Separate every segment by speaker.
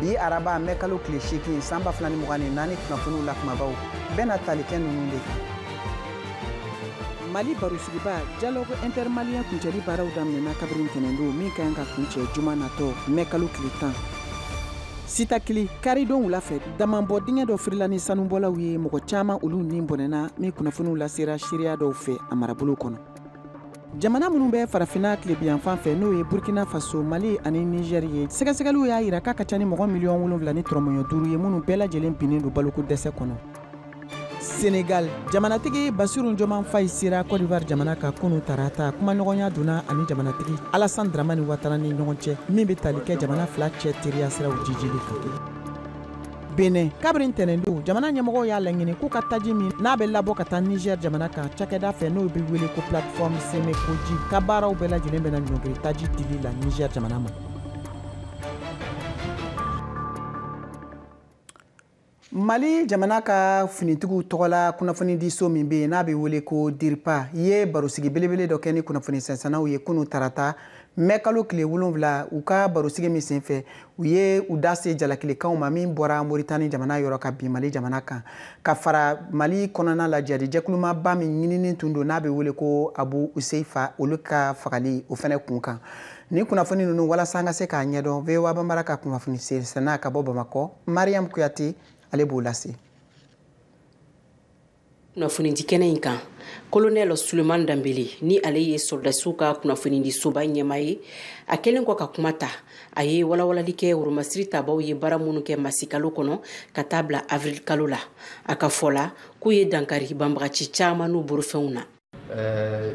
Speaker 1: bi araba mɛ kalo tile seegin san ba fila ni mugan ni naani kunnafoniw la kumabaw bɛna tali kɛ ninnu de kan mali barosigiba dialogue intermalien kuncɛli baaraw daminɛna kabiri ntɛnɛndon min ka kan ka kuncɛ juma natɔ mɛ kalo tile tan sitakili karidon wula fɛ damanbɔ dingɛ dɔ firila ni sanubɔlaw ye mɔgɔ caman olu ni bɔnɛna min kunnafoniw lasera seereya dɔw fɛ a marabolo kɔnɔ jamana minnu bɛ farafina tilebiyanfan fɛ n'o ye burkina faso mali ani nizɛri ye sɛgɛsɛgɛliw y'a yira k'a ka ca ni mɔgɔ miliyɔn wolonfila ni tɔrɔmɔɲɔ duuru ye minnu bɛɛ lajɛlen binnen don baloko dɛsɛ kɔnɔ senegal jamanatigi basiru joman fayi sera kɔdiwari jamana kan kunu tarata kumaɲɔgɔnya donna a ni jamanatigi alasan dramani watara ni ɲɔgɔn cɛ min bɛ tali kɛ jamana fila cɛ teriya siraw jijili kan Benin kabiri ntɛnɛndon jamana ɲɛmɔgɔw y'a laɲini k'u ka taji min n'a bɛ labɔ ka taa Niger jamana kan cakɛda fɛ n'o bɛ wele ko plateforme Sèmè-Kpodji ka baaraw bɛɛ lajɛlen bɛna ɲɔngiri taji dili la Niger jamana ma. Mali jamana ka finitigiw tɔgɔla kunnafonidiso min bɛ yen n'a bɛ wele ko DIRPA ye barosigi belebele dɔ kɛ ni kunnafoni sɛnsɛnnaw ye kunu tarata mɛ kalo tile wolonfila u ka barosigi min senfɛ u ye u da se jalakilekanw ma min bɔra moritani jamana yɔrɔ ka bin mali jamana kan ka fara mali kɔnɔna la jihadi jɛkulu maaba min ɲininen tun don n'a bɛ wele ko abu huzeifa olu ka fagali o fana kun kan nin kunnafoni ninnu walasa an ka se k'a ɲɛdɔn voa banbara ka kunnafoni sena ka bɔ bamakɔ mariam kuyate ale b'o lase
Speaker 2: kunnafonidi kɛnɛ in kan kolonɛl suleman danbele ni ale ye sɔrɔdasiw ka kunnafonidi soba ɲɛmaa ye a kɛlen kɔ ka kuma ta a ye walawalali kɛ woromasiri tabaw ye baara minnu kɛ masikalo kɔnɔ ka taa bila avirilikalo la a ka fɔ la k'u ye dankari banbagaci caman n'u borofɛnw na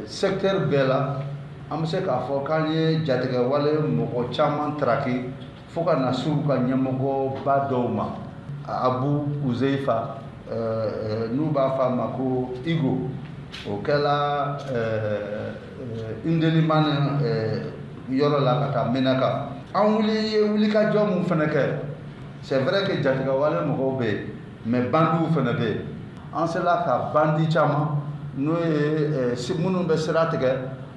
Speaker 3: secteur bɛɛ la an bɛ se k'a fɔ k'an ye jatigɛwale mɔgɔ caman traki fo ka na s'u ka ɲɛmɔgɔba dɔw ma abu huzeifa n'u b'a fɔ a ma ko igo o kɛla indelimane yɔrɔ la ka taa menaka an wuli ye wulikajɔ minnu fana kɛ c'est vrai que jatigɛwale mɔgɔw bɛ yen mais bandiw fana bɛ yen an sela ka bandi caman n'o ye eh, minnu bɛ sira tigɛ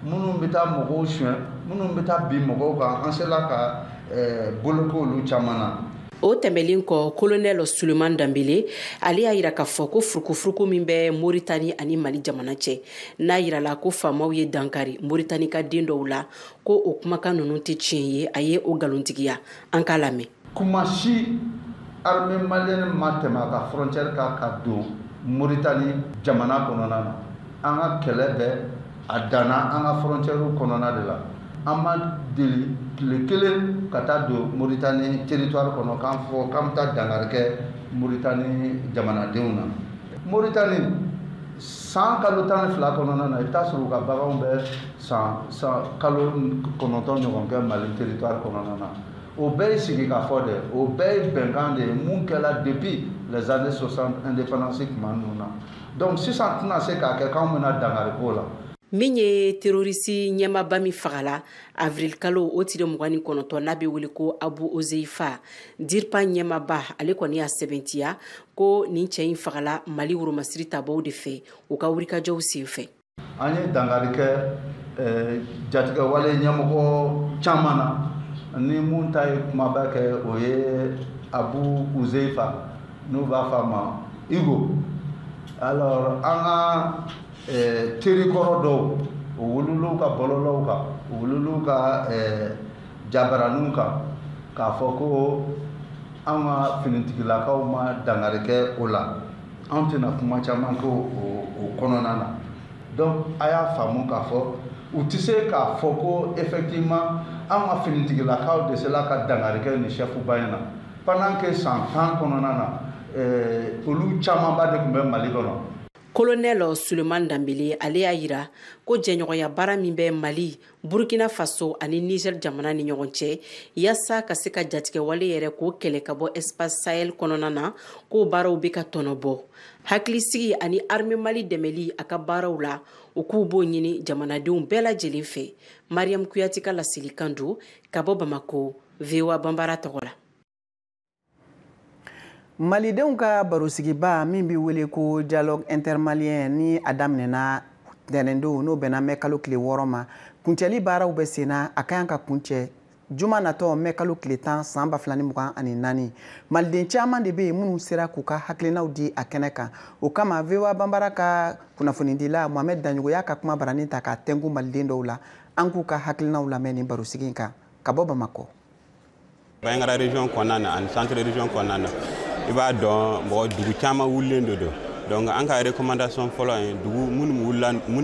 Speaker 3: minnu bɛ taa mɔgɔw suɲɛ minnu bɛ taa bin mɔgɔw kan an sela ka eh, boloko olu caman na o tɛmɛlen
Speaker 2: kɔ kolonɛl suleman danbele ale y'a yira k'a fɔ ko furukufuruku min bɛ moritani ani mali jamana cɛ n'a yirala ko faamaw ye dankari moritani ka den dɔw la ko o kumakan ninnu tɛ tiɲɛ ye a ye o nkalontigiya an k'a lamɛn tuma
Speaker 3: si armée malienne ma tɛmɛ a ka frontière kan ka don Mauritanie jamana kɔnɔna na an ka kɛlɛ bɛɛ a danna an ka frontière kɔnɔna de la an ma deli tile kelen ka taa don Mauritanie territoire kɔnɔ k'an fɔ k'an bɛ taa dankari kɛ Mauritanie jamanadenw na Mauritanie san kalo tan ni fila kɔnɔna na i bɛ t'a sɔrɔ u ka baganw bɛ san san kalo kɔnɔntɔn ɲɔgɔn kɛ Mali territoire kɔnɔna na o bɛɛ ye sigi ka fɔ de o bɛɛ ye bɛnkan de ye mun kɛla depuis les années 60 indépendance tuma ninnu na donc sisan tɛna se k'a kɛ k'anw bɛna dangari k'o la min ye
Speaker 2: terorisi ɲɛmaba min fagala avrilkalo o tile mugan ni kɔnɔntɔn n'a bɛ wele ko abu uzeifa dirpa ɲɛmaba ale kɔni y'a sɛbɛntiya ko nin cɛ in fagala mali woromasiri tabaw de fɛ u ka wulikajɔw sen fɛ an ye
Speaker 3: dangari kɛ eh, jatigɛwale ɲɛmɔgɔ caman na ni mun ta ye kumaba kɛ o ye abu uzeifa n'u b'a fɔ a ma hugo alors an ka eh, terikɔrɔ dɔw u wulil'u ka bɔlɔlɔw kan u wulil'u ka eh, jabaraninw kan k'a fɔ ko an ka finitigilakaw ma dangari kɛ o la An tɛna kuma caman kɛ o kɔnɔna na donc a y'a faamu k'a fɔ u tɛ se k'a fɔ ko effectivement an ka finitigilakaw de sela ka dangari kɛ nin chef ba in na pendant que san tan kɔnɔna na olu camanba de tun bɛ mali kɔnɔ colonel
Speaker 2: Souleymane Dembélé ale y'a yira ko jɛɲɔgɔnya baara min bɛ mali Burkina Faso ani Niger jamana ni ɲɔgɔn cɛ yaasa ka se ka jatigɛwale yɛrɛ k'o kɛlɛ ka bɔ espace Sahel kɔnɔna na k'o baaraw bɛ ka tɔnɔbɔ. Hakilisigi ani armée Mali dɛmɛli a ka baaraw la u k'u b'o ɲini jamanadenw bɛɛ lajɛlen fɛ. Mariam Kouyate ka laselikan don ka bɔ Bamako, VOA Banbara tɔgɔ la.
Speaker 1: malidenw ka barosigiba min bɛ wele ko dialogue intermalien ni a daminɛna ntɛnɛndon n'o bɛnna mɛ kalo tile wɔɔrɔ ma kuncɛli baaraw bɛ sen na a ka kan ka kuncɛ juma natɔ mɛ kalo tile tan san ba fila ni mugan ani naani maliden caman de bɛ yen minnu sera k'u ka hakilinaw di a kɛnɛ kan o kama voa banbara ka kunnafonidila mohamed dagnoko y'a ka kumabaranin ta k'a tɛnku maliden dɔw la an k'u ka hakilinaw lamɛn nin barosigi in kan ka bɔ bamakɔ
Speaker 4: Bandiagara région kɔnɔna na ani centre région kɔnɔna na i b'a dɔn mɔgɔ dugu caman wulilen de don donc an ka recommandation fɔlɔ ye dugu minnu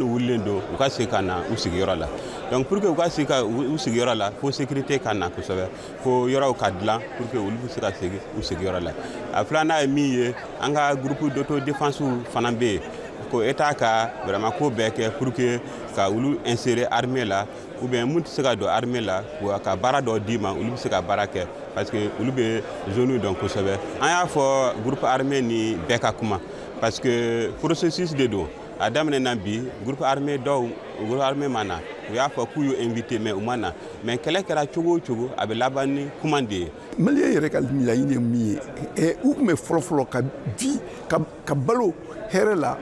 Speaker 4: wulilen don u ka segin ka na u sigiyɔrɔ la donc pour que u ka segin ka u sigiyɔrɔ la fo sécurité ka na kosɛbɛ fo yɔrɔw ka dilan pour que olu bɛ se ka segin u sigiyɔrɔ la a filanan ye min ye an ka groupe d'autodéfense fana bɛ yen ko État ka vraiment ko bɛɛ kɛ pour que ka olu insérer armée la ou bien min tɛ se ka don armée la ka baara dɔ d'i ma olu bɛ se ka baara kɛ parce que olu bɛ zone dɔn kosɛbɛ an y'a fɔ groupe armé ni bɛɛ ka kuma parce que processus de don a daminɛna bi groupe armé dɔw groupe armé ma na u y'a fɔ k'u y'u invité mais u ma na mais kɛlɛ kɛra cogo o cogo a bɛ laban ni kuma de ye. maliyɛn yɛrɛ ka
Speaker 5: laɲini ye min ye u tun bɛ fɔlɔfɔlɔ ka vi ka balo hɛrɛ la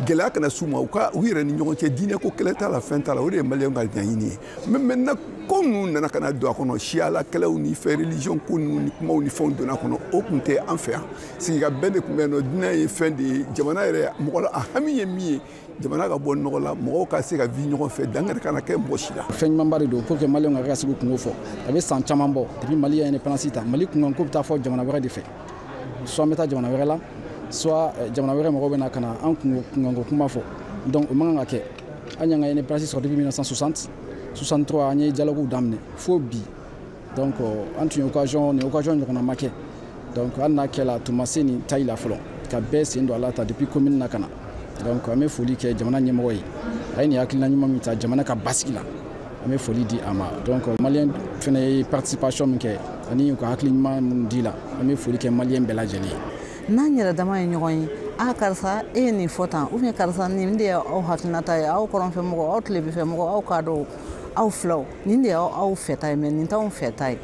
Speaker 5: gɛlɛya kana s'u ma u ka u yɛrɛ ni ɲɔgɔn cɛ diinɛ ko kɛlɛ t'a la fɛn t'a la o de ye maliyɛnw ka ɲaɲini ye mais maintenant ko ninnu nana ka na don a kɔnɔ siyala kɛlɛw ni fɛn religion ko ninnu ni kumaw ni fɛnw donna a kɔnɔ o tun tɛ an fɛ yan sigi ka bɛn de tun bɛ yen nɔ diinɛ ye fɛn de ye jamana yɛrɛ mɔgɔ la a hami ye min ye jamana ka bɔ nɔgɔ la mɔgɔw ka se ka vi ɲɔgɔn fɛ dankari kana kɛ mɔgɔ si la fɛn ɲumanba de don pour
Speaker 6: que maliyɛnw ka kɛ ka se k'u kunko fɔ a bɛ san caman bɔ depuis mali ye indépendance ta mali kunkanko bɛ taa fɔ jamana wɛrɛ de fɛ soit an bɛ taa jamana wɛrɛ la soit eh, jamana wɛrɛ mɔgɔw bɛ na ka na an kunkanko kuma fɔ donc o man kan ka kɛ an y'an ka indépendance sɔrɔ depuis 1960 63 an ye dialoguew daminɛ fo bi donc an tun ye occasion nin occasion ɲɔgɔnna ma kɛ donc hali n'a kɛla tun ma se nin taille la fɔlɔ ka bɛɛ sen don a la ta depuis commune na ka na donc an bɛ foli kɛ jamana ɲɛmɔgɔ ye a ye nin hakilina ɲuman min ta jamana ka basigi la an bɛ foli di a ma donc maliyɛn fana ye participation min kɛ ani u ka hakili ɲuman minnu dila an bɛ foli kɛ maliyɛn bɛɛ lajɛlen ye n'an yɛrɛ dama
Speaker 7: ye ɲɔgɔn ye a karisa e ye nin fɔ tan ou bien karisa nin de ye aw hakilinata ye aw kɔrɔnfɛmɔgɔ aw tilebinfɛmɔgɔ aw kadɔw aw filaw nin de y'aw fɛta ye mais nin t'anw fɛta ye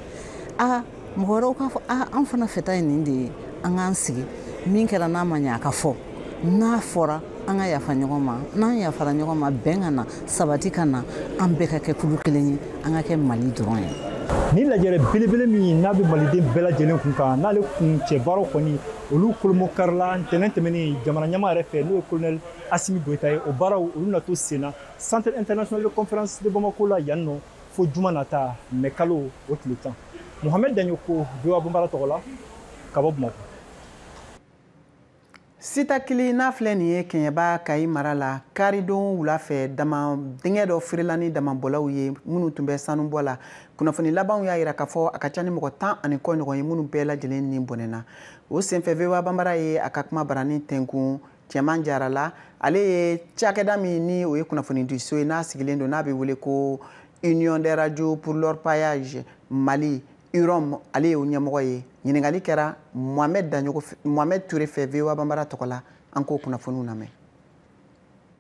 Speaker 7: a mɔgɔ wɛrɛw k'a fɔ a an fana fɛta ye nin de ye an k'an sigi min kɛra n'a ma ɲɛ a ka fɔ n'a fɔra an ka yafa ɲɔgɔn ma n'an yafara ɲɔgɔn ma bɛn ka na sabati ka na an bɛɛ ka kɛ kulu kelen ye an ka kɛ mali dɔrɔn ye nin
Speaker 8: lajɛrɛ belebele min ye n'a bɛ maliden bɛɛ lajɛlen kun kan n'ale kuncɛbaaraw kɔni olu kolomo karila ntɛnɛn tɛmɛnen jamana ɲɛmaa yɛrɛ fɛ n'o ye kolonɛli asimi goyita ye o baaraw olu na to sen na centre international de conférence de bamako la yan nɔ fo juma nata mɛ kalo o tile tan mohamed daɲogo voa banbara tɔgɔ la ka bɔ bamako
Speaker 1: sitakili n'a filɛ nin ye kɛɲɛba kayi mara la karidon wula fɛ daman dingɛ dɔ firila ni damabɔlaw ye minnu tun bɛ sanubɔ la kunnafoni labanw y'a yira k'a fɔ a ka ca ni mɔgɔ tan ani kɔ ɲɔgɔn ye minnu bɛɛ lajɛlen ni bɔnɛna o senfɛ voa banbara ye a ka kumabarani tɛnkun cɛman jara la ale ye cakɛda min ni o ye kunnafonidiso ye n'a sigilen don n'a bɛ wele ko union des radios pour l'orpaillage mali urom ale y'o ɲɛmɔgɔ ye ɲininkali kɛra mohamɛd daɲogo mohamɛd ture fɛ voa banbara tɔgɔ la an k'o kunnafoniw
Speaker 9: lamɛn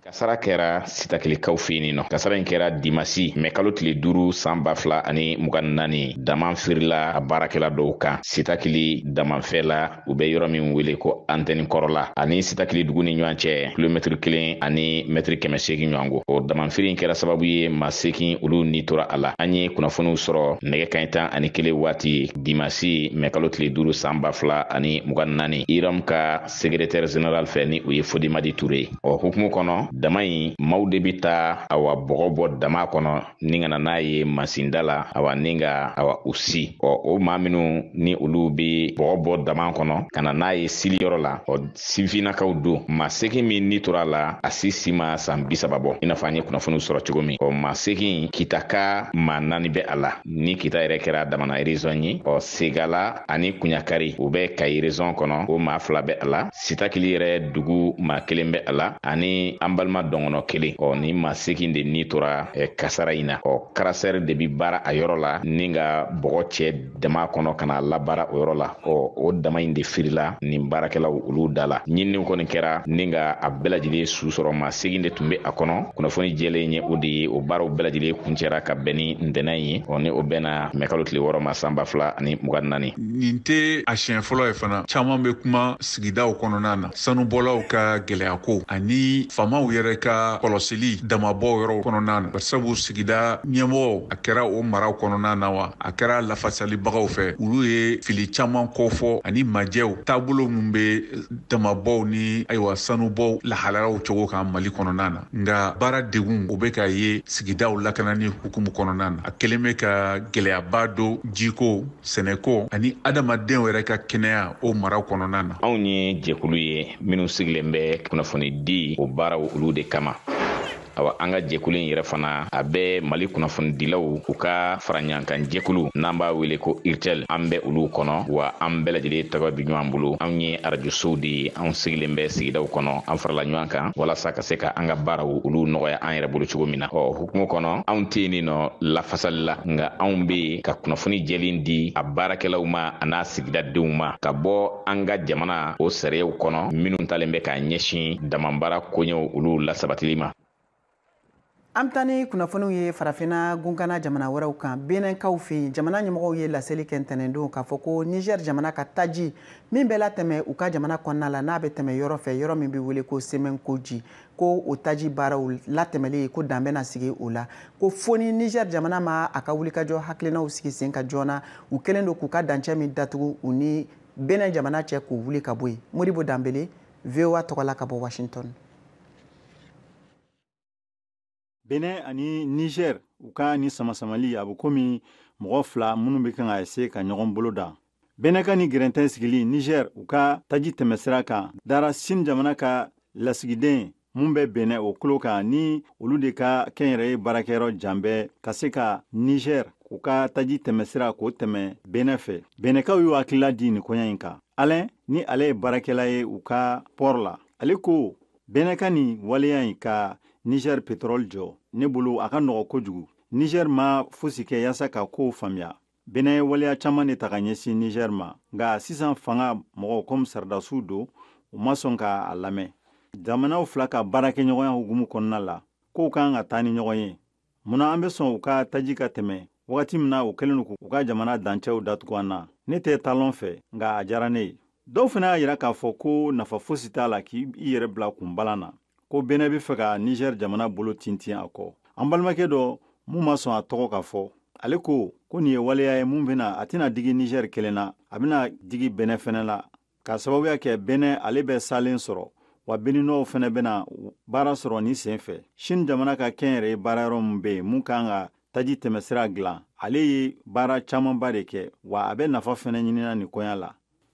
Speaker 9: kasara kɛra sitakilikaw fɛ yen nɔ kasara in kɛra dimasi mɛ kalo tile duuru san ba fila ani mugan naani daman firila a baarakɛla dɔw kan sitakili damanfɛ la u bɛ yɔrɔ min wele ko antɛni kɔrɔla ani sitakili dugu ni ɲɔgɔn cɛ kilomɛtiri kelen ani mɛtiri kɛmɛ seegin ɲɔgɔn ko o damanfiri in kɛra sababu ye maa seegin olu ni tora a la an ye kunnafoniw sɔrɔ nɛgɛ kanɲɛ tan ani kelen waati dimasi mɛkalo tile duuru san ba fila ani mugan naani iram ka segretɛrɛ zeneral fɛ ni o ye fodimadi ture ye o hukumu kɔnɔ dama in maaw de bi taa awa bɔgɔ bɔ dama kɔnɔ ni ka na n'a ye masinda la awa ni ka awa u si ɔ o maa minnu ni olu be bɔgɔ bɔ daman kɔnɔ ka na n'a ye sili yɔrɔ la ɔ sifinnakaw don maa segin min ni tora la a si si ma san bisaba bɔ i n'a fɔ an ye kunnafoniw sɔrɔ cogo min ɔ maa segin kitaka maa naani bɛ a la ni kita yɛrɛ kɛra damana erezɔn ye ɔ segala ani kuɲakari u bɛ kayi rezɔn kɔnɔ o maa fila bɛ a la sitakili yɛrɛ dugu maa kelen bɛ a la ani an balima dɔngɔnɔ kelen ɔ ni maa segin de ni tora eh, kasara in na ɔ karasɛri de bi baara a yɔrɔ la ni ka bɔgɔ cɛ dama kɔnɔ ka n'a labaara o yɔrɔ la ɔ o dama in de firila nin baarakɛlaw olu da la ɲininiw kɔni kɛra ni ka a bɛɛ lajɛlen su sɔrɔ maa segin de tun bɛ a kɔnɔ kunnafoni jɛlen ye o de ye o baaraw bɛɛ lajɛlen kuncɛra ka bɛn ni ntɛnɛn ye ɔ ni o bɛnna mɛkalo tile wɔɔrɔ ma san ba fila ani mugan naani nin tɛ
Speaker 10: a siɲɛ fɔlɔ ye fana caman bɛ kuma sigidaw kɔnɔna na sanubɔlaw ka gɛlɛyako ani faamaw yɛrɛ ka kɔlɔsili damabɔ yɔrɔw kɔnɔna na barisabu sigida ɲɛmɔgɔw a kɛra o maraw kɔnɔna na wa a kɛra lafasalibagaw fɛ olu ye fili caman kɔfɔ ani majɛw taabolo min bɛ damabɔw ni ayiwa sanubɔw lahalayaw cogo kan mali kɔnɔna na nka baara degun o bɛ k'a ye sigidaw lakanani hukumu kɔnɔna na a kɛlen bɛ ka gɛlɛyaba don jiko sɛnɛko ani adamadenw yɛrɛ ka kɛnɛya o mara kɔnɔna na anw ye jɛkulu
Speaker 9: ye minnu sigilen bɛ kunnafonidi o baaraw olu de kama awa an ka jɛkulu in yɛrɛ fana a bɛ mali kunnafonidilaw u ka faraɲɔgɔnkan jɛkulu n'an b'a wele ko urtel an bɛ olu kɔnɔ wa an bɛɛ lajɛlen tɛgɛ bi ɲɔgɔn bolo anw ye arajosow de ye anw sigilen bɛ sigidaw kɔnɔ an farala ɲɔgɔn kan walasa ka se ka an ka baaraw olu nɔgɔya an yɛrɛ bolo cogo min na o hukumu kɔnɔ anw tɛ yen nɔ lafasali la nka anw bɛ ka kunnafoni jɛlen di a baarakɛlaw ma a n'a sigida denw ma ka bɔ an ka jamana o sariyaw kɔnɔ minnu talen bɛ k'a ɲɛsin damabaara koɲɛw olu lasabatili
Speaker 1: ma an bɛ taa ni kunnafoniw ye farafinna gunkana jamana wɛrɛw kan benɛnkaw fɛ yen jamana ɲɛmɔgɔw ye laseli kɛ ntɛnɛndon k'a fɔ ko niger jamana ka taji min bɛ latɛmɛ u ka jamana kɔnɔna la n'a bɛ tɛmɛ yɔrɔ fɛ yɔrɔ min bɛ wele ko semɛn koji ko o taji baaraw latɛmɛli ko dan bɛna sigi o la ko fo ni niger jamana ma a ka wulikajɔ hakilinaw sigi sen kan joona u kɛlen don k'u ka dancɛ min datugu u ni benɛn jamana cɛ k'o wuli ka bɔ yen moribo danbele voa tɔgɔla ka bɔ
Speaker 11: washington benin ani niger u ka ni samasamali a bɛ komi mɔgɔ fila minnu bɛ kan ka ese ka ɲɔgɔn bolo da benin ka ni gɛrɛntɛ sigili niger u ka taji tɛmɛsira kan dara chine jamana ka lasigiden mun bɛ bɛnɛ o kulo kan ni olu de ka kɛnyɛrɛye baarakɛyɔrɔ janbɛ ka se ka nizɛr u ka taji tɛmɛsira k'o tɛmɛ benɛ fɛ benɛkaw y'u hakilila di nin koɲa in kan alɛn ni ale ye baarakɛla ye u ka pɔr la ale ko benɛ ka ni waleya in ka nizɛr petrɔl jɔ ne bolo a ka nɔgɔ kojugu nizɛr ma fosi kɛ yaasa ka kow faamuya Benin ye waleya caman de ta ka ɲɛsin Niger ma, nka sisan fanga mɔgɔw comme saradasiw don, u ma sɔn ka a lamɛn. Jamanaw fila ka baarakɛɲɔgɔnya hukumu kɔnɔna la, kow kan ka taa ni ɲɔgɔn ye. Mun na an bɛ sɔn u ka taji ka tɛmɛ wagati min na u kɛlen don k'u ka jamana dancɛw datugu an na? Ne tɛ Talon fɛ, nka a diyara ne ye. Dɔw fana y'a jira k'a fɔ ko nafa fosi t'a la k'i yɛrɛ bila kunbalan na. ko bɛnɛ bɛ fɛ ka nizɛri jamana bolo tintin a kɔ an balimakɛ dɔ mun ma sɔn a tɔgɔ ka fɔ ale ko ko nin ye waleya ye mun bɛna a tɛna digi nizɛri kelen na a bɛna digi bɛnɛ fɛnɛ la k'a sababuya kɛ bɛnɛ ale bɛ salen sɔrɔ wa beninuwaw fɛnɛ bɛna baara sɔrɔ nin sen fɛ sini jamana ka kɛnyɛrɛye baarayɔrɔ mun bɛ yen mun kan ka taji tɛmɛsira dilan ale ye baara camanba de kɛ wa a bɛ nafa fɛnɛ ɲinina nin koɲa la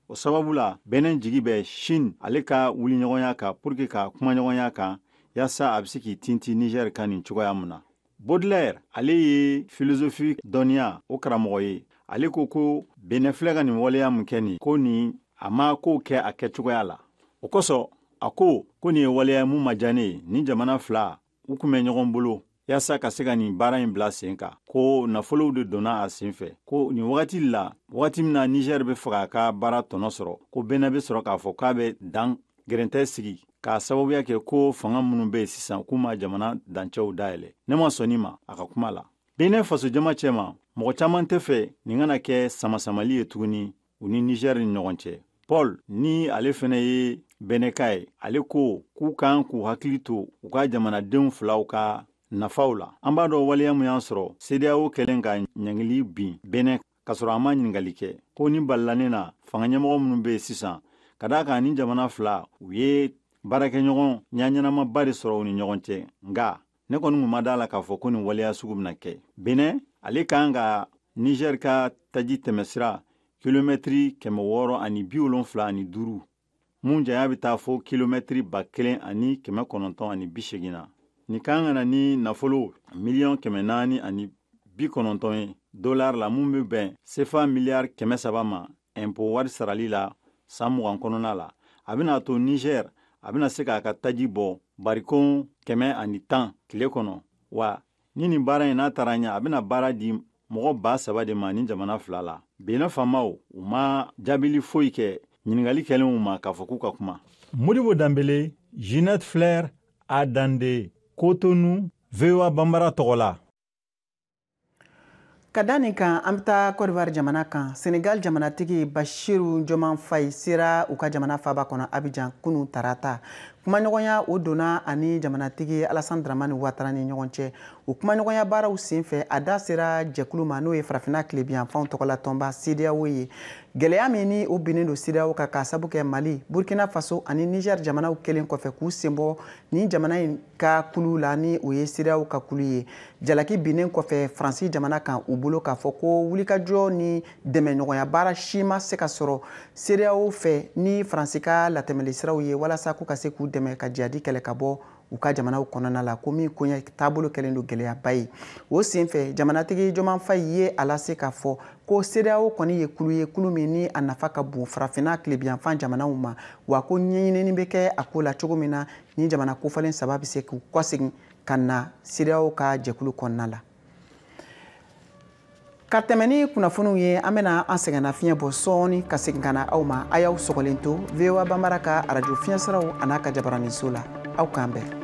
Speaker 11: o sababu la bɛnɛ jigi bɛ shin ale ka wuliɲɔgɔnya kan pour que ka kumaɲɔgɔnya kan yaasa a bɛ se k'i tinti nigɛr kan nin cogoya mun na bodlɛr ale ye filozofi dɔnniya o karamɔgɔ ye ale ko ko benɛ filɛ ka nin waleya min kɛ nin ko nin a ma kow kɛ a kɛcogoya la o kosɔn a ko ko nin ye waleya mun ma diya ne ye nin jamana fila u kun bɛ ɲɔgɔn bolo yaasa ka se ka nin baara in bila sen kan ko nafolow de donna a sen fɛ ko nin wagati la wagati min na nizɛri bɛ fɛ ka a ka baara tɔnɔ sɔrɔ ko bɛnɛ bɛ sɔrɔ k'a fɔ k'a bɛ dan gɛrɛntɛ sigi k'a sababuya kɛ ko fanga minnu bɛ yen sisan k'u ma jamana dancɛw dayɛlɛ ne ma sɔn nin ma a ka kuma la bɛnɛ fasojama cɛma mɔgɔ caman tɛ fɛ nin kana kɛ samasamali ye tuguni u ni nizɛri ni ɲɔgɔn cɛ paul ni ale fɛnɛ ye bɛnɛka ye ale ko k'u kan k'u hakili to u ka jamanadenw filaw ka nafaw la an b'a dɔn waleya mun y'an sɔrɔ sedeyawo kɛlen ka ɲangili bin bɛnɛ k'a sɔrɔ an ma ɲiningali kɛ ko ni balilan in na fanga ɲɛmɔgɔ minnu bɛ sisan ka d'a kan ni jamana fila u ye baarakɛɲɔgɔnya ɲɛnamaba de sɔrɔ u ni ɲɔgɔn cɛ nka ne kɔni kun ma d'a la k'a fɔ ko nin waleya sugu bɛna kɛ benɛ ale kan ka nizɛr ka taji tɛmɛsira kilomɛtiri kɛmɛ wɔɔrɔ ani bi wolonfila ani duuru mun janya bɛ taa fo kilomɛtiri ba kelen ani kɛmɛ kɔnɔntɔn ani bi segin na nin kan ka na ni nafolo miliyɔn kɛmɛ naani ani bi kɔnɔntɔn ye dolar la mun bɛ bɛn sefa miliyari kɛmɛ saba ma ɛnpo wari sarali la san mugan kɔnɔna la a bɛna to nizɛr a bɛna se k'a ka taji bɔ barikon kɛmɛ ani tan tile kɔnɔ wa ni nin baara in n'a taara ɲɛ a bɛna baara di mɔgɔ ba saba de ma ni jamana fila la benɛn faamaw u ma jaabili foyi kɛ ɲiningali kɛlenw ma k'a fɔ k'u ka kuma modibo danbele jinɛt flɛr adande kotonu voa banbara tɔgɔ la
Speaker 1: ka da nin kan an bɛ taa kɔdiwari jamana kan senegal jamanatigi bashiru joman fayi sera u ka jamana faaba kɔnɔ abijan kunu tarata kumaɲɔgɔnya o donna a ni jamanatigi alasan dramani watara ni ɲɔgɔn cɛ o kumaɲɔgɔnya baaraw sen fɛ a da sera jɛkulu ma n'o ye farafina tilebiyanfanw tɔgɔla tɔnba sedeyawo ye gɛlɛya min ni o binnen don sedeyawo kan k'a sabu kɛ mali burkina faso ani niger jamanaw kɛlen kɔfɛ k'u senbɔ nin jamana in ka kulu la ni o ye sedeyawo ka kulu ye jalaki binnen kɔfɛ faransi jamana kan u bolo k'a fɔ ko wulikajɔ ni dɛmɛɲɔgɔnya baara si ma se ka sɔrɔ sedeyawo fɛ ni faransi ka latɛmɛli siraw ye walasa k'u ka se k'u dɛmɛ ka jihadi kɛlɛ ka bɔ u ka jamanaw kɔnɔna la ko min koɲɛ taabolo kɛlen don gɛlɛyaba ye o sen fɛ jamanatigi joman fayi ye a lase k'a fɔ ko sedeyawo kɔni ye kulu ye kulu min ni a nafa ka bon farafinna tilebiyanfan jamanaw ma wa ko ɲɛɲinini bɛ kɛ a ko la cogo min na ni jamana kofɔlen saba bɛ se k'u kɔsegin ka na sedeyaw ka jɛkulu kɔnɔna la ka tɛmɛ ni kunnafoniw ye an bɛna an sɛgɛnna fiɲɛ bɔ sɔɔni ka segin ka na aw ma a y'aw sɔgɔlen to voa banbara ka arajo fiɲɛ siraw an'a ka jabaraninso la aw k'an bɛn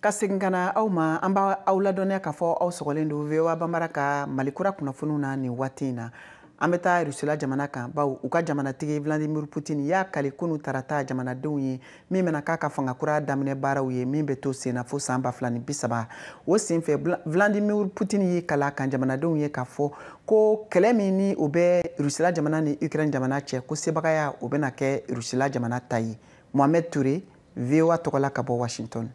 Speaker 1: ka segin ka na aw ma an b'a aw ladɔnniya k'a fɔ aw sɔgɔlen don voa banbara ka mali kura kunnafoniw na nin waati in na an bɛ taa rusila jamana kan bawo u ka jamanatigi vladimir putin y'a kali kunu tarata jamanadenw ye min bɛna k'a ka fanga kura daminɛ baaraw ye min bɛ to senna fo san ba fila ni bisaba o senfɛ vladimir putin y'i kala kan jamanadenw ye k'a fɔ ko kɛlɛ min ni o bɛ rusila jamana ni ukraine jamana cɛ ko sebagaya o bɛna kɛ rusila jamana ta ye mohamɛd ture voa tɔgɔla ka bɔ
Speaker 10: washington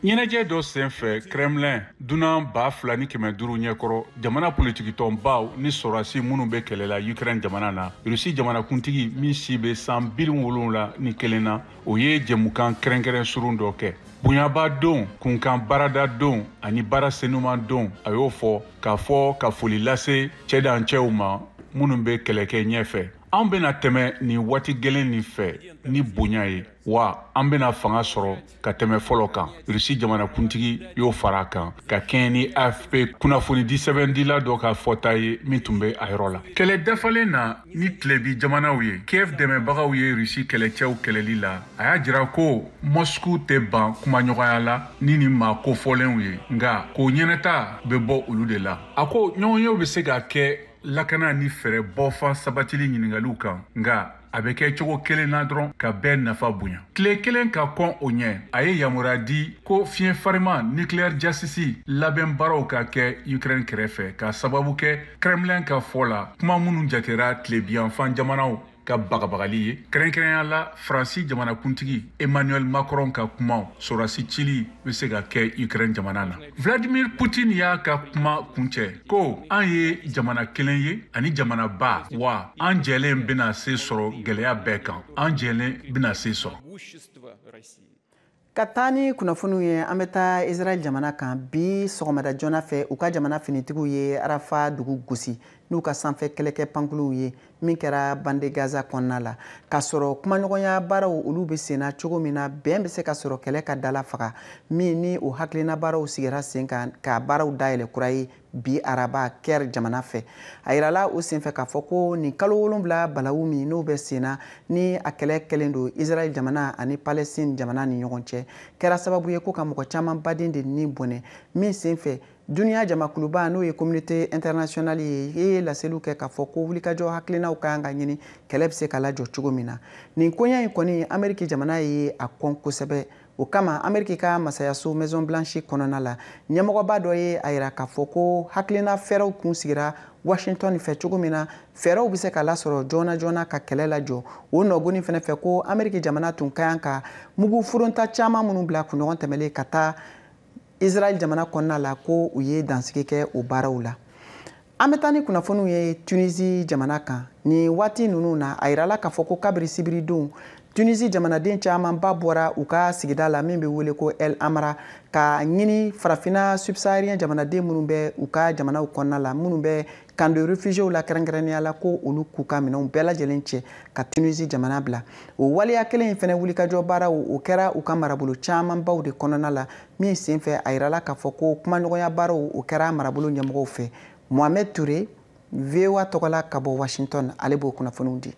Speaker 10: ɲɛnajɛ dɔ senfɛ kremlin dunan ba fila ni kɛmɛ duuru ɲɛkɔrɔ jamana politikitɔnbaw ni sɔrɔdasi minnu bɛ kɛlɛ la ukraine jamana na rusi jamanakuntigi min si bɛ san biwolonwula ni kelen na o ye jɛmukan kɛrɛnkɛrɛn surun dɔ kɛ bonyaba don kunkan baarada don ani baara senuman don a y'o fɔ k'a fɔ ka foli lase cɛdancɛw ma minnu bɛ kɛlɛkɛ ɲɛfɛ An bɛna tɛmɛ nin waati gɛlɛn nin fɛ ni bonya ye wa an bɛna fanga sɔrɔ ka tɛmɛ fɔlɔ kan rusi jamanakuntigi y'o fara a kan ka kɛɲɛ ni afp kunnafoni disɛbɛndila dɔ ka fɔta ye min tun bɛ a yɔrɔ la kɛlɛ dafalen na ni tilebin jamanaw ye kiev dɛmɛbagaw ye rusi kɛlɛcɛw kɛlɛli la a y'a jira ko moscou tɛ ban kumaɲɔgɔnya la ni nin maa kofɔlenw ye nka k'o ɲɛnata bɛ bɔ olu de la a ko ɲɔgɔnyew bɛ se ka kɛ lakana ni fɛɛrɛ bɔfan sabatili ɲiningaliw kan nka a bɛ kɛ cogo kelen na dɔrɔn ka bɛɛ nafa bonya tile kelen ka kɔn o ɲɛ a ye yamaruya di ko fiɲɛ farima nucléaire jasisi labɛn baaraw ka kɛ ukraine kɛrɛfɛ k'a sababu kɛ kremlin ka fɔ la kuma minnu jatera tilebiyanfan jamanaw ka bagabagali ye kɛrɛnkɛrɛnya la faransi jamanakuntigi emmanuel macron ka kumaw sorasi cili bɛ se ka kɛ ukraine jamana na vladimir putin y'a ka kuma kuncɛ ko an ye jamana kelen ye ani jamanaba wa an jɛlen bɛna se sɔrɔ gɛlɛya bɛɛ kan an jɛlen bɛna se sɔrɔ ka
Speaker 1: taa ni kunnafoniw ye an bɛ taa israɛl jamana kan bi sɔgɔmada joona fɛ u ka jamana finitigiw ye arafa dugu gosi n'u ka sanfɛ kɛlɛkɛ pankuluw ye min kɛra bande gaza kɔnɔna la k'a sɔrɔ kumaɲɔgɔnya baaraw olu bɛ senna cogo min na bɛn bɛ se ka sɔrɔ kɛlɛ ka dala faga min ni o hakilina baaraw sigira sen kan k'a baaraw dayɛlɛ kura ye bi araba caire jamana fɛ a yirala o senfɛ k'a fɔ ko nin kalo wolonwula balawu min n'o bɛ senna ni a kɛlɛ kɛlen don israɛl jamana ani palestine jamana ni ɲɔgɔn cɛ kɛra sababu ye ko ka mɔgɔ caman baden de ni bɔnɛ min senfɛ duniya jamakuluba n'o ye communauté internationale ye ye laseliw kɛ k'a fɔ ko wulikajɔ hakilinaw ka kan ka ɲini kɛlɛ bɛ se ka lajɔ cogo min na nin koɲɛ in kɔni ameriki jamana ye a kɔn kosɛbɛ o kama ameriki ka masayaso maison blanche kɔnɔna la ɲɛmɔgɔba dɔ ye a yira k'a fɔ ko hakilina fɛɛrɛw kun sigira washington fɛ cogo min na fɛɛrɛw bɛ se ka lasɔrɔ joona joona ka kɛlɛ lajɔ o nɔgoni fɛnɛ fɛ ko ameriki jamana tun ka kan ka mugu furonta caman minnu bila kunɲɔgɔn tɛmɛlen ka taa israɛl jamana kɔnɔna la ko u ye dansigi kɛ o baaraw la An bɛ taa ni kunnafoniw ye Tunisie jamana kan. Nin waati ninnu na, a yirala k'a fɔ ko kabiri sibiridon, Tunisie jamanaden camanba bɔra u ka sigida la min bɛ wele ko El Amra ka ɲini farafina subsaharien jamanaden minnu bɛ u ka jamanaw kɔnɔna la, minnu bɛ camp de réfugiés la kɛrɛnkɛrɛnnenya la, ko olu k'u ka minɛnw bɛɛ lajɛlen cɛ ka Tunisie jamana bila. O waleya kelen in fɛnɛ wulikajɔ baaraw, o kɛra u ka marabolo camanbaw de kɔnɔna la min senfɛ a yirala k'a fɔ ko kumaɲɔgɔnya baaraw o kɛra marabolo ɲɛmɔgɔw fɛ mohamed ture voa tɔgɔ la ka bɔ washington ale b'o kunnafoniw di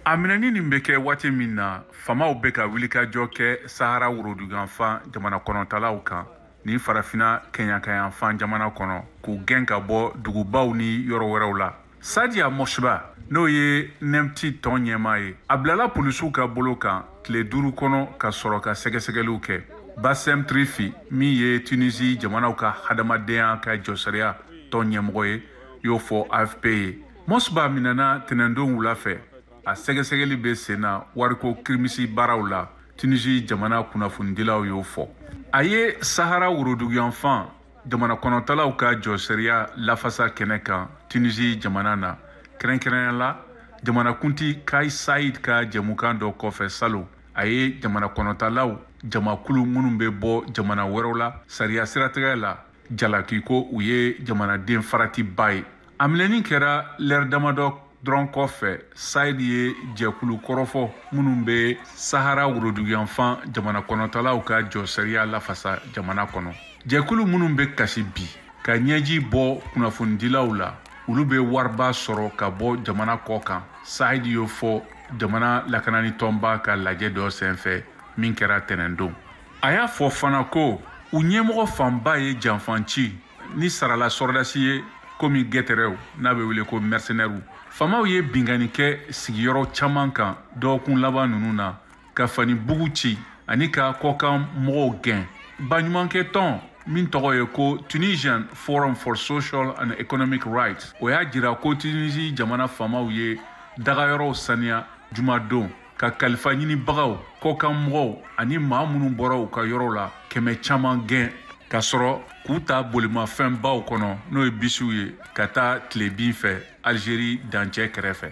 Speaker 12: a minɛni nin bɛ kɛ waati min na faamaw bɛ ka wilikajɔ kɛ sahara woroduguyanfan jamana kɔnɔtalaw kan ni farafina kɛɲakayanfan jamana kɔnɔ k'u gɛn ka bɔ dugubaw ni yɔrɔ wɛrɛw la Saadia Mosbah n'o ye Mnemty tɔn ɲɛmaa ye, a bilala polisiw ka bolo kan tile duuru kɔnɔ ka sɔrɔ ka sɛgɛsɛgɛliw kɛ. Bassem Trifi min ye Tunisie jamanaw ka hadamadenya ka jɔsariya tɔn ɲɛmɔgɔ ye y'o fɔ AFP ye. Mosbah minɛna tɛnɛndon wula fɛ, a sɛgɛsɛgɛli bɛ sen na wariko kirimisi baaraw la, Tunisie jamana kunnafonidilaw y'o fɔ. A ye Sahara woroduguyanfan jamana kɔnɔtalaw ka jɔsariya lafasa kɛnɛ kan tunisi jamana na kɛrɛnkɛrɛnya la jamanakunti kais saied ka jɛmukan dɔ kɔfɛ salon a ye jamana kɔnɔtalaw jamakulu minnu bɛ bɔ jamana wɛrɛw la sariya siratigɛ la jalaki ko u ye jamanaden faratiba ye a minɛni kɛra lɛri damadɔ dɔrɔn kɔfɛ saied ye jɛkulu kɔrɔfɔ minnu bɛ sahara woroduguyanfan jamana kɔnɔtalaw ka jɔsariya lafasa jamana kɔnɔ jɛkulu minnu bɛ kasi bi ka ɲɛji bɔ kunnafonidilaw la olu bɛ wariba sɔrɔ ka bɔ jamana kɔ kan saied y'o fɔ jamana lakanani tɔnba ka lajɛ dɔ senfɛ min kɛra tɛnɛndon a y'a fɔ fana ko u ɲɛmɔgɔ fanba ye janfanci ni sarala sɔrɔdasi ye komi gɛtɛrɛw n'a bɛ wele ko mɛrisenɛriw faamaw ye binkanni kɛ sigiyɔrɔ caman kan dɔgɔkun laban ninnu na ka fani bugu ci ani ka kɔkan mɔgɔw gɛn baɲumankɛ tɔn min tɔgɔ ye ko tunisian forum for social and economic rights o y'a jira ko tunisi jamana faamaw ye dagayɔrɔw saniya jumadon ka kalifa ɲinibagaw kɔkan mɔgɔw ani maa minnu bɔra u ka yɔrɔ la kɛmɛ caman gɛn ka sɔrɔ k'u ta bolimafɛnbaw kɔnɔ n'o ye bisiw ye ka taa tilebin fɛ alizeri dancɛ kɛrɛfɛ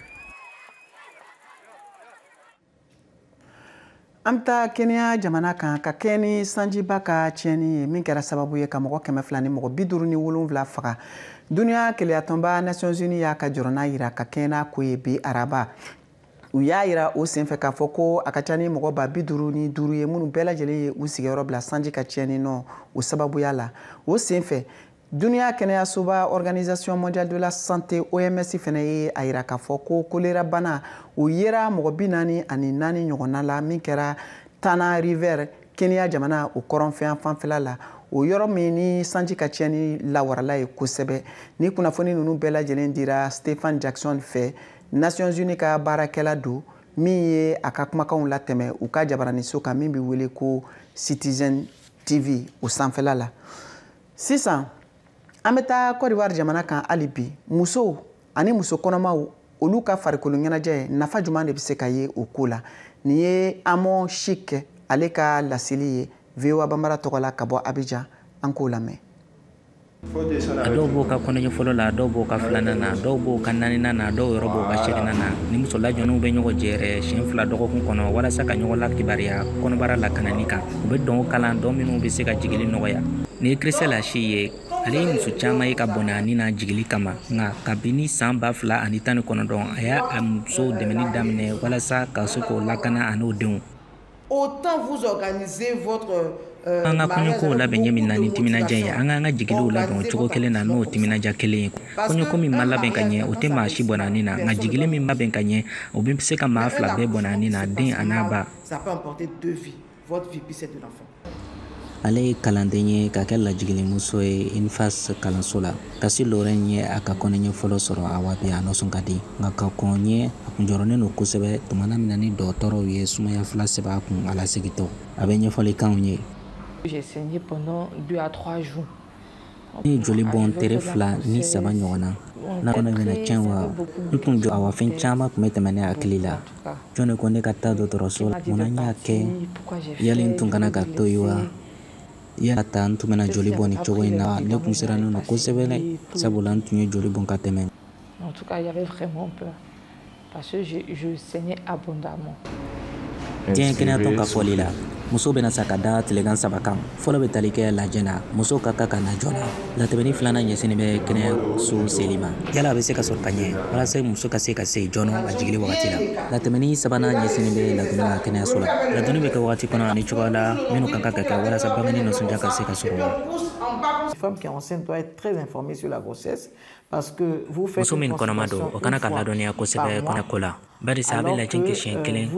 Speaker 1: an bɛ taa kenya jamana kan ka kɛɲɛ ni sanjiba ka tiɲɛni ye min kɛra sababu ye ka mɔgɔ kɛmɛ fila ni mɔgɔ bi duuru ni wolonfila faga duniya kelenyatɔnba nations unis y'a ka jɔrɔna yira ka kɛɲɛ n'a ko ye bi araba u y'a yira o senfɛ k'a fɔ ko a ka ca ni mɔgɔ ba bi duuru ni duuru ye minnu bɛɛ lajɛlen ye u sigiyɔrɔ bila sanji ka tiɲɛni nɔ o sababuya la o senfɛ duniya kɛnɛyasoba organisation mondiale de la santé oms fana ye a yira k'a fɔ ko kolera bana o yera mɔgɔ bi naani ani naani ɲɔgɔnna la min kɛra tana river kenya jamana o kɔrɔnfɛ fanfɛla la o yɔrɔ min ni sanji ka tiɲɛni lawarala ye kosɛbɛ nin kunnafoni ninnu bɛɛ lajɛlen dira stephen jackson fɛ nations unis ka baarakɛla don min ye a ka kumakanw latɛmɛ u ka jabaraniso kan min bɛ wele ko citizen tv o sanfɛla la sisan an bɛ taa cote d'ivoire jamana kan hali bi musow ani muso kɔnɔmaw olu ka farikolo ɲɛnajɛ nafa jumɛn de bɛ se ka ye o ko la nin ye amɔ cheick ale ka laseli ye voa banbara tɔgɔ la ka bɔ abijan an k'o lamɛn
Speaker 13: a dɔw b'o ka kɔnɔɲɛ fɔlɔ la dɔw b'o ka filanan na dɔw b'o ka naaninan na dɔw yɔrɔ b'o ka seginnan na ni muso lajɔninw bɛ ɲɔgɔn jɛɛrɛ siyɛn fila dɔgɔkun kɔnɔ walasa ka ɲɔgɔn lakibaruya kɔnɔbara lakanani kan u bɛ dɔn kalan dɔn minnu bɛ se ka jigili nɔgɔya nin ye Christelle Achi ye ale ye muso caman ye ka bɔnɛ a ni na jigili kama nka kabini san ba fila ani tan ni kɔnɔntɔn a y'a muso dɛmɛni daminɛ walasa ka se k'o lakana ani o denw
Speaker 14: An ka
Speaker 13: kɔɲɔkow labɛn ɲɛ min na ni timinadiya ye, an ka an ka jigiliw labɛn o cogo kelen na n'o timinadiya kelen ye. Kɔɲɔko min ma labɛn ka ɲɛ, o tɛ maa si bɔnɛ a ni na, nka jigili min labɛn ka ɲɛ, o bɛ se ka maa fila bɛɛ bɔnɛ a ni na, den an'a ba. Ale ye kalanden ye ka kɛ lajigilimuso ye INFAS kalanso la. Kassi Lorraine ye a ka kɔnɔɲɛ fɔlɔ sɔrɔ awa bi a nisɔn ka di nka ka kɔn ɲɛ a kun jɔrɔnen don kosɛbɛ tumana min na ni dɔgɔtɔrɔw ye sumaya fila sɛbɛn a kun a lasiritɔ a bɛ ɲɛfɔli k'anw ye
Speaker 15: ne
Speaker 13: ye joli bɔn tere fila ni saba ɲɔgɔn na n'a kɔnɔ bɛna tiɲɛ wa n tun jɔ awa fɛn caman tun bɛ tɛmɛ ne hakili la jɔn de ko ne ka taa dɔgɔtɔrɔso la mun na n y'a kɛ yali n tun kana ka to yen wa Yala ta n tun bɛna joli bɔn nin cogo in na ne tun sirannen don kosɛbɛ sabula n tun ye joli bɔn ka
Speaker 15: tɛmɛ
Speaker 13: diɲɛ kɛnɛyatɔn ka fɔli la muso bɛna sa ka da tilekan saba kan fɔlɔ bɛ tali kɛ lajɛ la muso ka kan ka na joona latɛmɛni filanan ɲɛsinnen bɛ kɛnɛyaso seli ma yala a bɛ se ka sɔrɔ ka ɲɛ walasa muso ka se ka se joona a jigili wagati la latɛmɛni sabanan ɲɛsinnen bɛ ladonni kan kɛnɛyaso la ladonni bɛ kɛ wagati kɔnɔ ani cogoya la minnu ka kan ka kɛ walasa bangeni nisɔndiya ka se ka sɔrɔ
Speaker 14: muso min kɔnɔma don o kana
Speaker 13: ka ladɔnniya kosɛbɛ kɔnɔko la barisa a bɛ lajɛ kɛ siɲɛ euh, kelen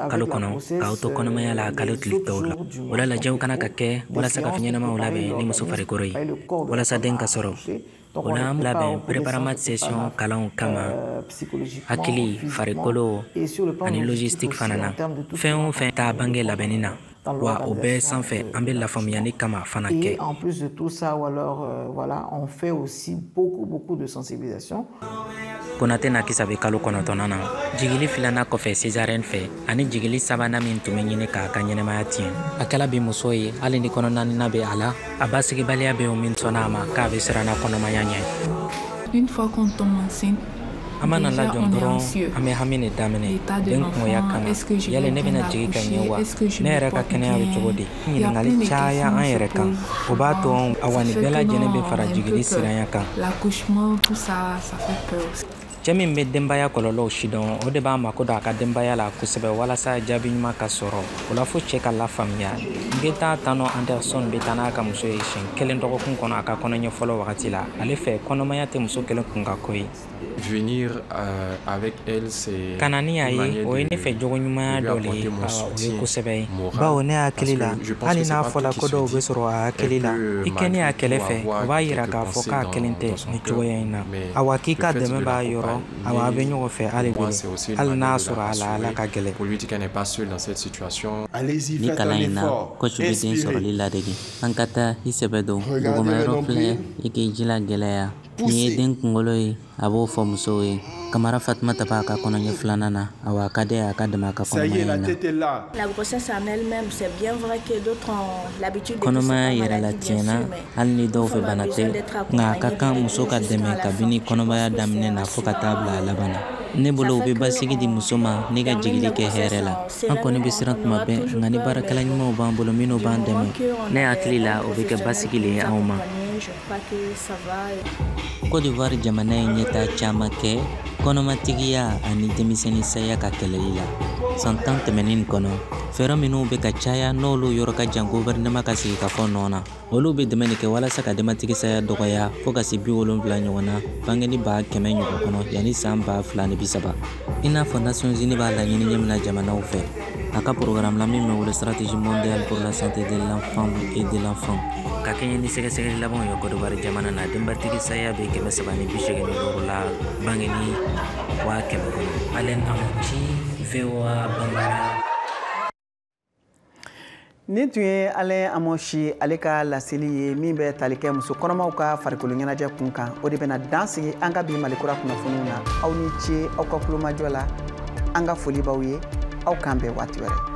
Speaker 13: kalo kɔnɔ k'aw to kɔnɔmaya la kalo tile tɔw la o la lajɛw kana ka kɛ walasa ka fɛn ɲɛnamaw labɛn ni muso farikolo ye walasa den ka sɔrɔ o la an labɛn preparama session kalanw kama hakili farikolo ani logistique fana na fɛn o fɛn taa bange labɛnni na wa o bɛɛ sanfɛ an bɛ lafaamuyali caman fana kɛ. Et en plus de tout
Speaker 14: ça, alors, euh, voilà, on fait aussi beaucoup, beaucoup de sensibilisation. Konate
Speaker 13: Nakisa bɛ kalo kɔnɔntɔnnan na jigili filanan kɔfɛ césarienne fɛ ani jigili sabanan min tun bɛ ɲini k'a ka ɲɛnamaya tiɲɛ a kɛla bi muso ye hali ni kɔnɔ naaninan bɛ a la a basigibaliya bɛ o min sɔnna a ma k'a bɛ siranna kɔnɔmaya ɲɛ Une fois qu'on tombe
Speaker 16: enceinte, an mana
Speaker 13: lajɔ dɔrɔn an bɛ hami de daminɛ den cogoya kama yali ne bɛna jigi ka ɲɛ wa ne yɛrɛ ka kɛnɛya bɛ cogo di ɲininkali caya an yɛrɛ kan o b'a to awa nin bɛɛ lajɛlen bɛ fara jigili siranya
Speaker 16: kan cɛ min bɛ
Speaker 13: denbaya kɔlɔlɔw sidɔn o de b'a mako don a ka denbaya la kosɛbɛ walasa jaabi ɲuman ka sɔrɔ o la fo cɛ ka lafaamuya ngeta tano anderson bɛ taa n'a ka muso ye siɲɛ kelen dɔgɔkun kɔnɔ a ka kɔnɔɲɛ fɔlɔ wagati la ale fɛ kɔnɔmaya tɛ muso kelen kunkanko ye
Speaker 17: ka na ni y'a ye
Speaker 13: o ye ne fɛ jogo ɲumanya dɔ le ye o ye kosɛbɛ ye bawo ne hakili la hali n'a fɔla ko dɔw bɛ sɔrɔ a hakili la i kɛnin y'a kɛrɛ fɛ o b'a yira k'a fɔ k'a kelen tɛ ni cogoya in na awa k'i ka dɛmɛ b'a yɔrɔ awa a bɛ ɲɔgɔn fɛ hali hali n'a sɔrɔ a la ala ka gɛlɛn ni kalan in na kɔci bɛ den sɔrɔli ladege an ka taa i sɛbɛ don dugumayɔrɔ filɛ i k'i jija gɛlɛya nin ye den kunkolo ye a b'o fɔ musow ye kamara fatumata b'a ka kɔnɔɲɛ filanan na awa a ka dɛ a ka dɛmɛ a ka kɔnɔmaya in na
Speaker 18: kɔnɔmaya yɛrɛ la tiɲɛna
Speaker 13: hali ni dɔw fɛ bana tɛ nka a ka kan muso ka dɛmɛ kabini kɔnɔmaya daminɛ na fɔɔ ka taa bila a laban na ne bolo u bɛ basigi di muso ma ni ka jigili kɛ hɛrɛ la an kɔni bɛ siran tuma bɛɛ nka ni baarakɛla ɲumanw b'an bolo minnu b'an dɛmɛ ne hakili la o bɛ kɛ basigi le ye anw ma Côte d'Ivoire jamana ye ɲɛtaa caman kɛ kɔnɔmatigiya ani denmisɛnnin saya ka kɛlɛli la san tan tɛmɛnin kɔnɔ fɛɛrɛ minnu bɛ ka caya n'olu yɔrɔ ka jan gɔfɛrɛnaman ka sigikafɔ nɔ na olu bɛ dɛmɛ de kɛ walasa ka denbatigi saya dɔgɔya fɔɔ ka se bi wolonfila ɲɔgɔn na bangeni ba kɛmɛ ɲɔgɔn kɔnɔ yanni saan ba fila ni bisaba i n'a fɔ nations unies b'a laɲini ɲɛ min na jamanaw fɛ a ka porogaramu la min bɛ wele stratégie mondiale pour la santé de la femme et de l'enfant ka kɛɲɛ ni sɛgɛsɛgɛli labanw ye Côte d'Ivoire jamana na denbatigi saya bɛ kɛmɛ saba ni bi segin ni duuru la bangeni waa kɛmɛ kɔnɔ alain amontchi voa bambara
Speaker 1: nin tun ye alain amontchi ale ka laseli ye min bɛ tali kɛ muso kɔnɔmaw ka farikolo ɲɛnajɛ kun kan o de bɛna dan sigi an ka bi mali kura kunnafoniw na aw ni ce aw ka tulomajɔ la an ka foli b'aw ye aw k'an bɛn waati wɛrɛ